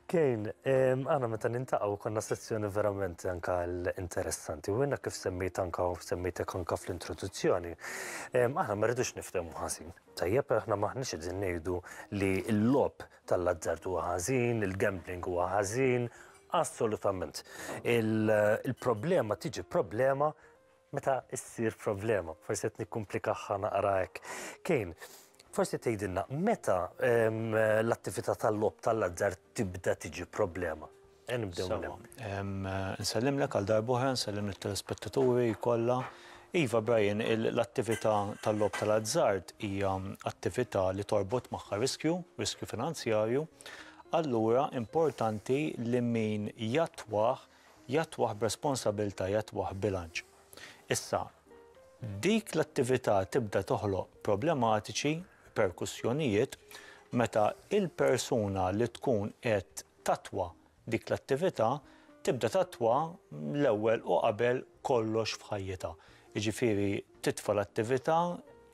Kane, aħna meta nintaqgħu konna sezzjoni verament anke interessanti u jiena kif semmejt anke semmejtek anke fl-introduzzjoni. Aħna ma rridux niftehmu ħażin. Tajjeb, aħna m'aħniex qegħdin ngħidu li l-logħob tal-azzard huwa ħażin, il-gambling huwa ħażin, assolutament. Il-problema tiġi problema Meta ssir problema, forsi qed nikkumplikahha naqra hekk. Kane, forsi tgħidilna meta l-attività tal-logħob tal-azzard tibda tiġi problema? E nibdew minn hemm. Sewa. Nsellimlek għal darb'oħra, nsellim lit-telespettaturi kollha. Iva, Brian, l-attività tal-logħob tal-azzard hija attività li torbot magħha riskju, riskju finanzjarju, allura importanti li min jattwah jattwah b'responsabilità, jattwah b'bilanċ. Issa, dik l-attività tibda toħloq problematiċi, riperkussjonijiet, meta l-persuna li tkun qed tattwa dik l-attività tibda tattwa l-ewwel u qabel kollox f'ħajjitha. Jiġifieri titfa' l-attività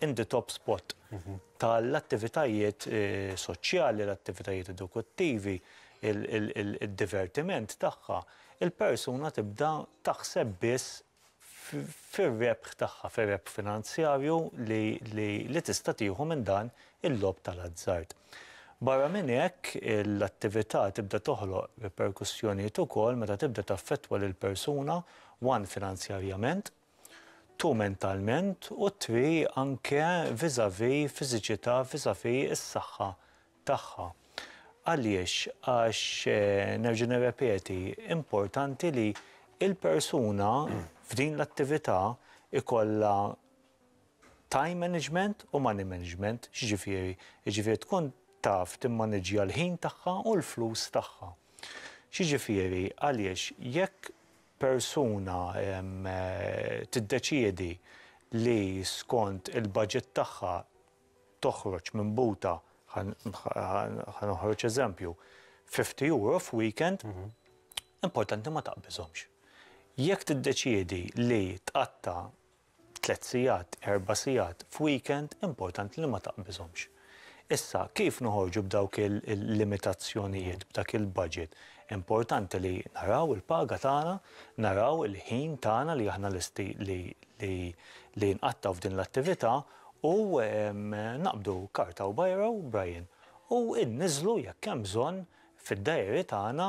in the top spot. ta' l-attivitajiet soċjali, l-attivitajiet edukattivi, id-divertiment tagħha, il-persuna tibda taħseb biss fir-rebħ tagħha, fir-rebħ finanzjarju li tista' tieħu minn dan il-logħob ta' l-azzard. Barra minn hekk, l-attività tibda toħloq riperkussjonijiet ukoll meta tibda taffettwa lill-persuna one finanzjarjament, tu mentalment u tri anke vis-à-vis fiżiċità vis-à-vis is-saħħa tagħha. Għaliex? Għax nerġa' nirrepeti, importanti li l-persuna f'din l-attività jkollha time management u money management. X'jiġifieri? Jiġifieri tkun taf timmaniġġja l-ħin tagħha u l-flus tagħha. X'jiġifieri? Għaliex jekk persuna tiddeċiedi li skont il-baġit tagħha toħroġ minn buta, ħa noħroġ eżempju, €50 f'weekend, importanti ma taqbiżhomx. Jekk tiddeċiedi li tqatta' Tliet sigħat, erba' sigħat, f'weekend, importanti li ma taqbiżhomx. Issa, kif noħorġu b'dawk il-limitazzjonijiet, b'dak il-budget? Importanti li naraw il-paga tagħna, naraw il-ħin tagħna li aħna lesti li nqattgħu f'din l-attività u naqbdu karta u bajra u brajjen u nniżżlu jekk hemm bżonn fid-dajeri tagħna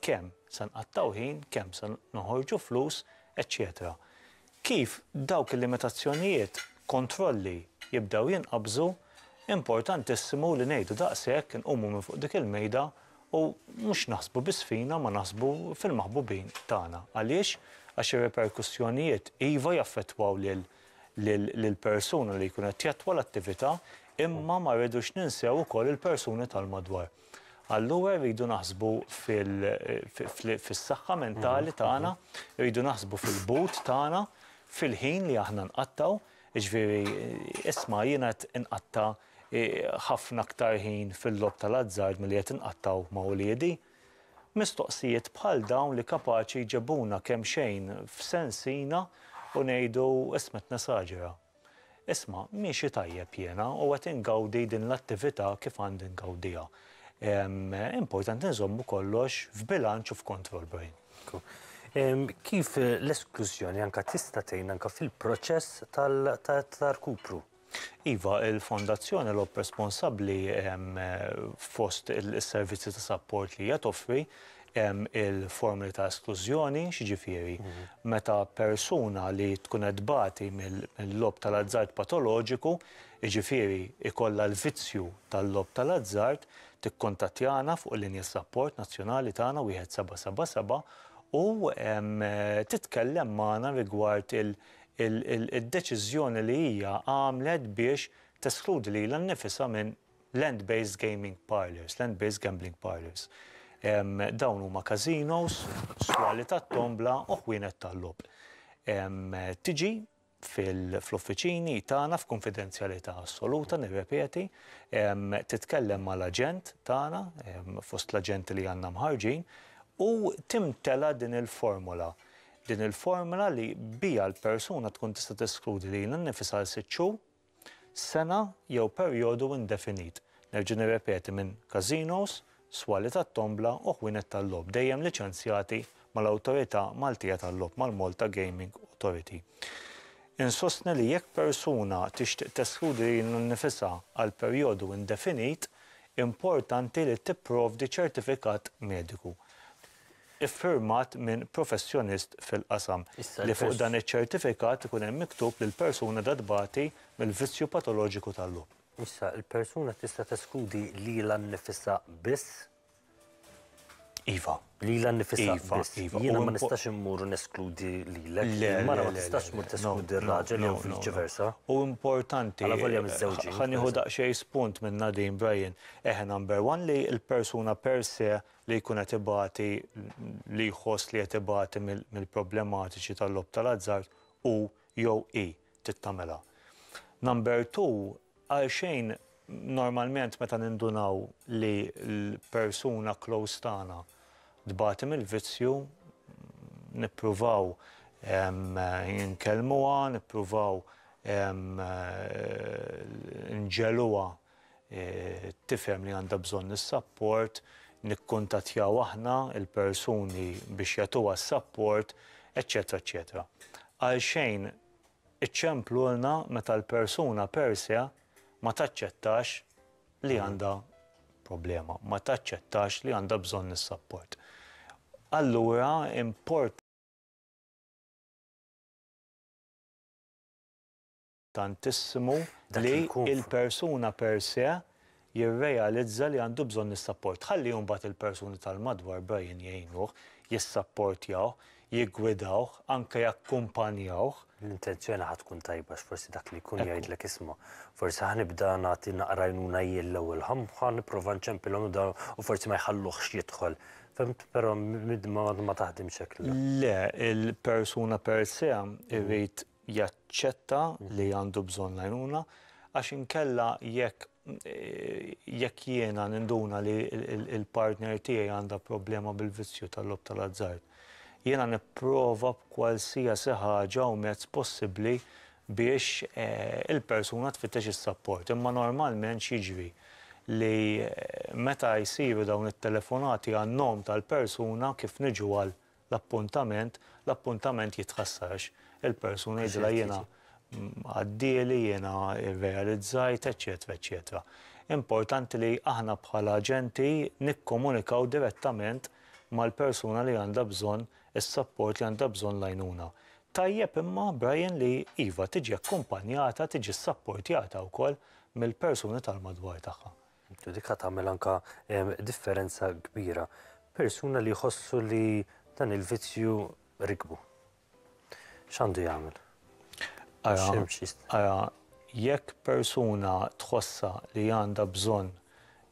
kemm se nqattgħu ħin, kemm se noħorġu flus, eċċetera Kif dawk il-limitazzjonijiet, kontrolli, jibdew jinqabżu, importantissimu li ngħidu daqshekk, inqumu minn fuq dik il-mejda u mhux naħsbu biss fina ma naħsbu fil-maħbubin tagħna. Għaliex? Għax ir-riperkussjonijiet iva jaffettwaw lil lill-persuna li jkun qed jattwa l-attività imma ma rridux ninsew ukoll il-persuni tal-madwar. Allura rridu naħsbu fis-saħħa mentali tagħna, rridu naħsbu fil-but tagħna, fil-ħin li aħna nqattgħu, jiġifieri isma' jiena qed inqatta' ħafna aktar ħin fil-logħob tal-azzard milli qed inqattgħu ma' uliedi. Mistoqsijiet bħal dawn li kapaċi jġebuna kemxejn f'sensina u ngħidu isma' qed nesaġera. Isma', miexi tajjeb jiena u qed ingawdi din l-attività kif għandi ngawdiha. Importanti nżommu kollox f'bilanċ u f'kontroll, Brian. Kif l-esklużjoni anke tista' tgħin anke fil-proċess ta' rkupru? Iva, il-Fondazzjoni Lob Responsabbli fost is-servizzi ta' sapport li hija toffri, Hemm il-formoli ta' esklużjoni, x'jiġifieri? Meta persuna li tkun qed tbati mil-logħob tal-azzard patoloġiku, jiġifieri jkollha l-vizzju tal-logħob tal-azzard, tikkuntattjana fuq il-linja sapport nazzjonali tagħna wieħed seba' seba' seba' u titkellem magħna rigward id-deċiżjoni li hija għamlet biex teskludi lilha nnifisha minn Land-based gaming parlours, land-based gambling parlours. Dawn huma casinos, swali tat-tombla u ħwienet tal-logħob. Tiġi fl-uffiċini tagħna f'kunfidenzjalità assoluta, nirrepeti, titkellem mal-aġent tagħna, fost l-aġenti li għandna mħarrġin, u timtela din il-formola. Din il-formola li biha l-persuna tkun tista' teskludi lilha nnifisha għal sitt xhur sena jew perjodu indefinit, nerġa' nirrepeti, minn każinos, swali tat-tombla u ħwienet tal-logħob dejjem liċenzjati mal-Awtorità Maltija tal-Logħob, mal-Malta Gaming Authority. Insostni li jekk persuna tixtieq teskludi lilha nnifisha għal perjodu indefinit, importanti li tipprovdi ċertifikat mediku. iffirmat minn professjonist fil-qasam, li fuq dan iċ-ċertifikat ikun hemm miktub li l-persuna da tbati mill-vizzju patoloġiku tal-logħob. Issa, il-persuna tista' teskludi lilha nnifisha biss? Iva. Lilha nnifisha biss. Jiena ma nistax immur u neskludi lilek. Le. Il-mara ma tistax tmur teskludi r-raġel jew viċi versa. Hu importanti. Alavolja miżżewġin. Ħa nieħu daqsxejn spunt minn Nadine Bryan. Eħe number one li l-persuna per se li jkun qed ibati, li jħoss li qed ibati mill-problematiċi tal-logħob tal-azzard, hu jew hi trid tagħmilha. Number two, għalxejn normalment meta nindunaw li l-persuna close tagħna tbati mill-vizzju, nippruvaw inkellmuha, nippruvaw inġegħluha tifhem li għandha bżonn is-sapport, nikkuntattjaw aħna l-persuni biex jagħtuha s-sapport, eċċetera eċċetera. Għalxejn iċċemplulna meta l-persuna per se ma taċċettax li għandha problema, ma taċċettax li għandha bżonn is-sapport. Allura import. importantissimu li l-persuna per se jirrealizza li għandu bżonn is-sapport. Ħalli mbagħad il-persuni tal-madwar Brian jgħinuh, jissapportjawh, jiggwidawh, anke jakkumpanjawh. L-intenzjoni ħa tkun tajba għax forsi dak li jkun jgħidlek isma', forsi ħa nibda nagħti naqra għajnuna jien l-ewwel, ħa nipprova nċempilhom dawn u forsi ma jħalluhx jidħol. Fhimt? Però ma taħdimx hekk, le. Le, il-persuna per se jrid jaċċetta li għandu bżonn l-għajnuna għax inkella jekk jekk jiena ninduna li l-partner tiegħi għandha problema bil-vizzju tal-logħob tal-azzard, jiena nipprova b'kwalsiasi ħaġa u mezz possibbli biex il-persuna tfittex is-sapport. Imma normalment x'jiġri? Li meta jsiru dawn it-telefonati għan-nom tal-persuna kif niġu għal L-appuntament, l-appuntament jitħassar għax il-persuna jgħidilha jiena għaddieli, jiena rrealizzajt, eċċetera, eċċetera. Importanti li aħna bħala aġenti nikkomunikaw direttament mal-persuna li għandha bżonn is-sapport, li għandha bżonn l-għajnuna. Tajjeb imma, Brian, li iva, tiġi akkumpanjata, tiġi ssapportjata wkoll mill-persuni tal-madwar tagħha. Ġudika tagħmel anke differenza kbira. Persuna li jħossu li dan il-vizzju rikbu. X'għandu jagħmel? Ara, jekk persuna tħossha li għandha bżonn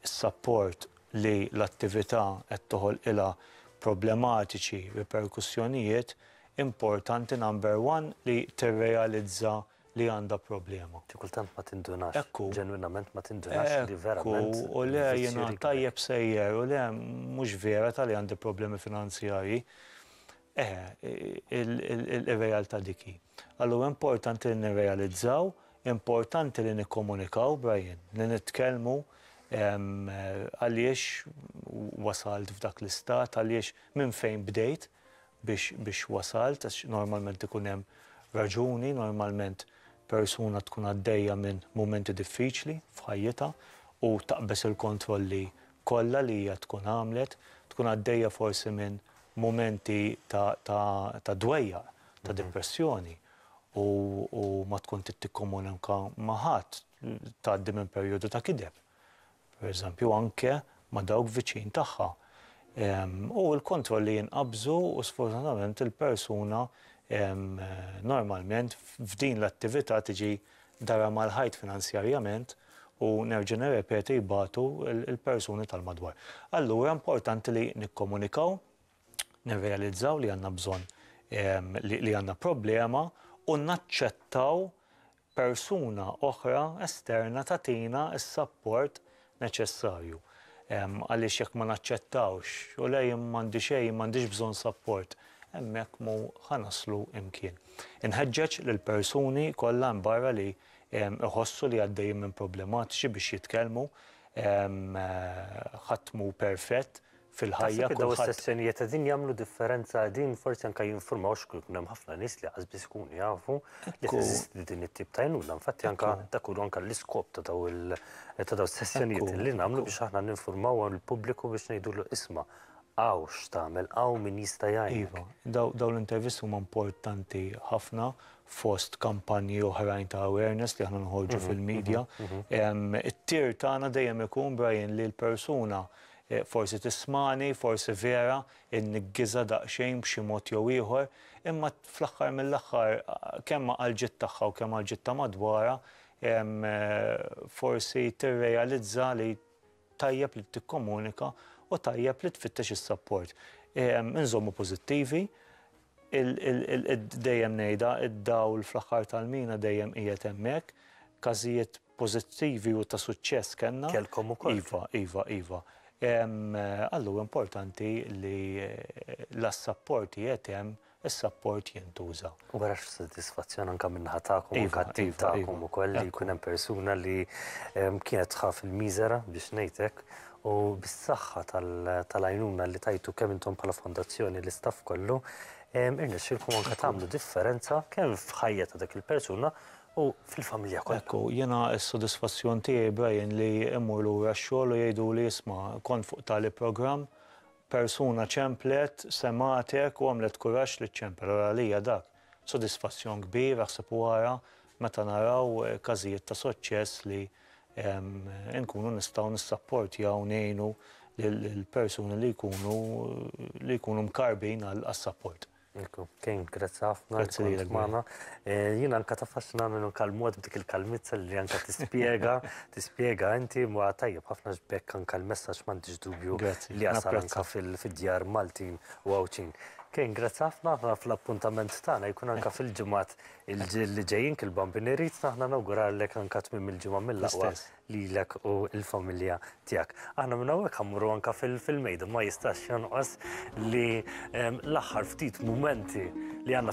is-sapport li l-attività qed toħolqilha problematiċi, riperkussjonijiet, importanti number one li tirrealizza li għandha problema. Xi kultant ma tindunax. Ekku. Ġenwinament ma tindunax li verament. Ekku, u le jiena tajjeb sejjer, u le mhux vera ta' li għandi problemi finanzjarji. Eh, ir-realtà dik hi. Allura importanti li nirrealizzaw, importanti li nikkomunikaw, Brian, li nitkellmu għaliex wasalt f'dak l-istat, għaliex minn fejn bdejt, biex biex wasalt għax normalment ikun hemm raġuni, normalment persuna tkun għaddejja minn mumenti diffiċli f'ħajjitha u taqbeż il-kontrolli kollha li hija tkun għamlet, tkun għaddejja forsi minn mumenti ta' ta' ta' dwejjaq, ta' depressjoni u u ma tkun trid tikkomunika ma' ħadd, tgħaddi minn perjodu ta' kideb. pereżempju anke ma' dawk viċin tagħha, u l-kontrolli jinqabżu u sfortunatament il-persuna normalment f'din l-attività tiġi darha mal-ħajt finanzjarjament u nerġa' nirrepeti jbatu l-persuni tal-madwar. Allura importanti li nikkomunikaw, nirrealizzaw li għandna bżonn li għandna problema u naċċettaw persuna oħra esterna tagħtina s-sapport neċessarju. Għaliex jekk ma naċċettawx, u le jien m'għandi xejn, m'għandix bżonn sapport, hemmhekk mhu ħa naslu imkien. Inħeġġeġ lill-persuni kollha hemm barra li jħossu li għaddejjin minn problematiċi biex jitkellmu. Ħadd mhu perfett, fil-ħajja kulħadd. Taħseb li dawn is-sessjonijiet qegħdin jagħmlu differenza qegħdin forsi anke jinfurmaw x'kun jkun hemm ħafna nies li qas biss ikunu jafu li teżisti din it-tip ta' għajnuna. Infatti anke dak hu anke l-iskop ta' daw il ta' daw is-sessjonijiet li nagħmlu biex aħna ninfurmaw il-pubbliku biex ngħidulu isma' hawn x'tagħmel hawn min jista' jgħinek. Iva, dawn l-intervisti huma importanti ħafna fost kampanji oħrajn ta' awareness li aħna noħorġu fil-media. It-tir tagħna dejjem ikun Brian li l-persuna Forsi tismagħni, forsi vera nnigghiżha daqsxejn b'xi mod jew ieħor, imma fl-aħħar mill-aħħar kemm għall-ġid tagħha u kemm għall-ġid ta' madwarha forsi tirrealizza li tajjeb li tikkomunika u tajjeb li tfittex is-sapport. Inżommu pożittivi, dejjem ngħidha, id-dawl fl-aħħar tal-mina dejjem qiegħed hemmhekk, każijiet pożittivi u ta' suċċess kellna. Kellkom ukoll. Iva, iva, iva. Alla huwa importanti li la s-sapport qiegħed hemm, is-sapport jintuża. U wara x'sodisfazzjon anke min-naħa tagħkom u kat-tim tagħkom ukoll li jkun hemm persuna li kienet tħaff il-miżera biex ngħid hekk u bis-saħħa tal-għajnuna li tajtu kemm intom bħala fondazzjoni l-istaff kollu irnexxielkom anke tagħmlu differenza kemm f'ħajja ta' dik il-persuna u fil-familja kollha. Hekk hu, jiena s-sodisfazzjon tiegħi, Brian, li mmur lura x-xogħol u jgħiduli, isma', kont fuq tali programm, persuna ċemplet, semgħatek u għamlet kuraġġ li ċċempel. Ara għalija dak sodisfazzjon kbir, aħseb u ara meta naraw każijiet ta' suċċess li nkunu nistgħu nissapportjaw, ngħinu lill-persuni li jkunu li jkunu mkarrbin għas-sapport. Ekku, Kane, grazzi ħafna. Grazzi li l-għana. Eh, Jina anka tafaxna minnu kal-mod b'dik il-kalmizza li anka tispiega, tispiega inti ma tajjeb ħafna ġbek anka l-messaġġ m'għandix dubju li jasal anka fil-djar Maltin u Għawdxin. Kane, grazzi ħafna ħafna fl-appuntament tagħna jkun anka fil-ġimgħat li ġejjin kil-bambini rrid naħna nawgurallek anka tmim il-ġimgħa mill-aqwa lilek u l-familja tiegħek. Aħna minn hawnhekk ħa mmorru anke fil-mejda, ma jistax jonqos li l-aħħar ftit mumenti li għandna